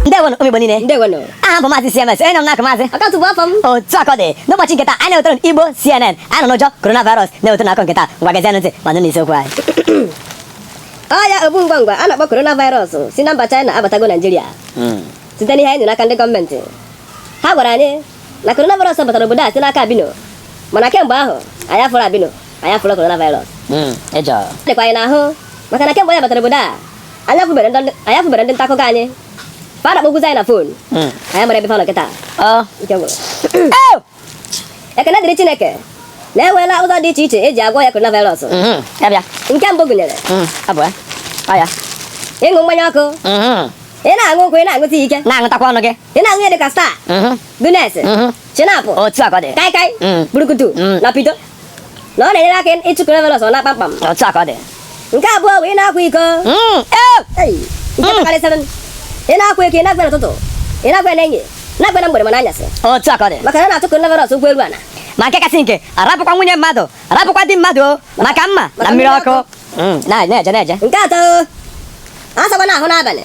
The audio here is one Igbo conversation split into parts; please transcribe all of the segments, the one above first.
ndewonụ ụmụ Igbo niile ndewonụ aha m bụ maazị CMS enye m n'aka maazị ọkatụ bụ afa m otu a ka ọ dị n'ụbọchị nke taa anyị na-ewetara unu Igbo CNN anyị nọ n'ụjọ coronavirus na-ewetara unu akụkọ nke taa ngwa gezienụ ntị ma nụ isiokwu anyị ọrịa ogbu ngwa ngwa a na-akpọ coronavirus si na mba China abatago Naijiria site n'ihe anyị nụrụ n'aka ndị gọọmenti ha gwara anyị na coronavirus batara obodo a site n'aka albino mana kemgbe ahụ anyị afụrọ albino anyị afụrọ coronavirus Mm, ụjọ. dịkwa anyị n'ahụ maka na kemgbe ọya batara obodo a anyị afụberọ ndị anyị afụberọ ndị nta akụkọ anyị fa na-akpọkwuzi anyị na fon Mm. anyị amarọ ebe fa nọ kịta Ọ. ike gwụrụ Ew! ekene dịrị chineke na e nweela ụzọ dị iche iche e ji agwọ ọya coronavirus Mhm, ya bịa. nke mbụ gụnyere Mm, ọ bụ ya. Ọ ya. ịṅụ mmanya ọkụ Mhm. ị na-aṅụ nkwụ ị na-aṅụ tii ike Na-aṅụtakwa ọnụ gị. ị na-aṅụ ihe dịka star mhm. Guinness mhm. Schnapps otu a ka ọ dị kai kai mm. burukutu mm. na pito na ọ na-enyere aka ịchụ coronavirus ọ naa kpamkpam otu a ka ọ dị nke abụọ bụ ị na-akwa iko mm. eh! nke karịsịrị ị na-akwa iko ị na-akwa n'ụtụtụ ị na-akwa n'ehihie na-akwa na mgbede ma n'anyasị otu a ka ọ dị maka na ọ na-achụ coronavirus ụkwụ elu ana ma nke kasị nke arapụkwa nwunye mmadụ arapụkwa di mmadụ maka mma na mmiri ọkụ na-eje na-eje nke atọ asakwana ahụ n'abalị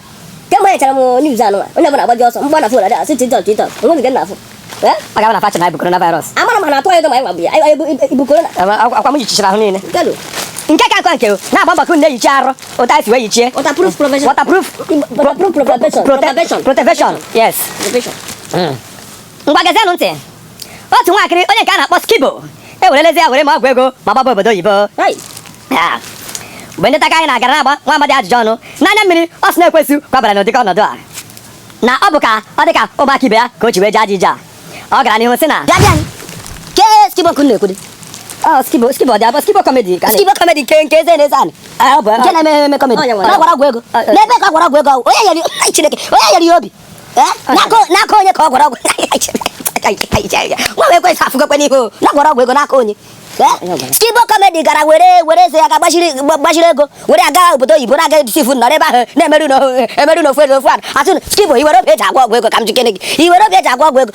kemgbe anyị nụchara news anụnwa onye ọbụla agbaji ọsọ mgbe na fon ada asị tiktok tiktok o nwe nke na-afụ ọ ga-abụ na fa ncha na-ebu coronavirus amara m ha na-atụ anyị ụjọ ma anyị nwa bu ya anyị bụ ibu korona akwa m yichichara ahụ niile galo nke ka nke nke o na-agba mbọ ka unu na-eyichi arụ otu anyị si wee yichie waterproof provision waterproof waterproof protection protection protection yes provision ngwa gezienụ ntị otu nwatakịrị onye nke a na-akpọ skibo ewerela eze ya were mee ọgwụ ego ma gbaba obodo oyibo Hey, Ah, mgbe ndị nta akụkọ anyị gara na-agba nwa amadi ajụjụ ọnụ n'anya mmiri ọ sị na ekwensu kwabara ya n'ụdịka ọnọdụ a na ọ bụ ka ọ dị ka ụmụaka ibe ya ka o ji wee jee ajọ ije a ọ gara n'ihu sị na bịa bịa kee skibo unu na-ekwudo "Oh, skibo skibo dị abụọ skibo kọmedi ka skibo kọmedi nke nke eze na-eze anị nke na-eme eme kọmedi Onye nwe ya? na ọ gwọrọ ọgwụ ego Ọ- ọ- n'ebe ka ọ gwọrọ ọgwụ ego ahụ, onye nyere ya- Ai, Chineke onye nyere ya obi n'aka onye ka ọ gwọrọ ọgwụ nwa ekwensu afụgokwa ya n'ihu ọ gwọrọ ọgwụ ego n'aka onye skibo kọmedi gara were were eze ya ga gbachiri ego were aga obodo oyibo na-aga edisifu nọrọ ebe ahụ na-emerụ n'ofu eze ofu a atụ skibo i nwere obi e ji agwọ ọgwụ ego ka m jụkene gị i nwere obi e ji agwọ ọgwụ ego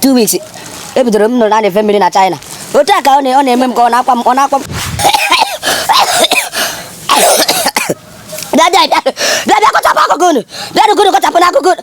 two weeks ebidoro m nụrụ na na-efe mmiri na China otu a ka ọ na-eme m ka ọ na-akwa m ọ na-akwa m bịa bịa bịa bịa bịa kọchapụ akụkụ unu bịa nụkụ unu kọchapụ n'akụkụ unu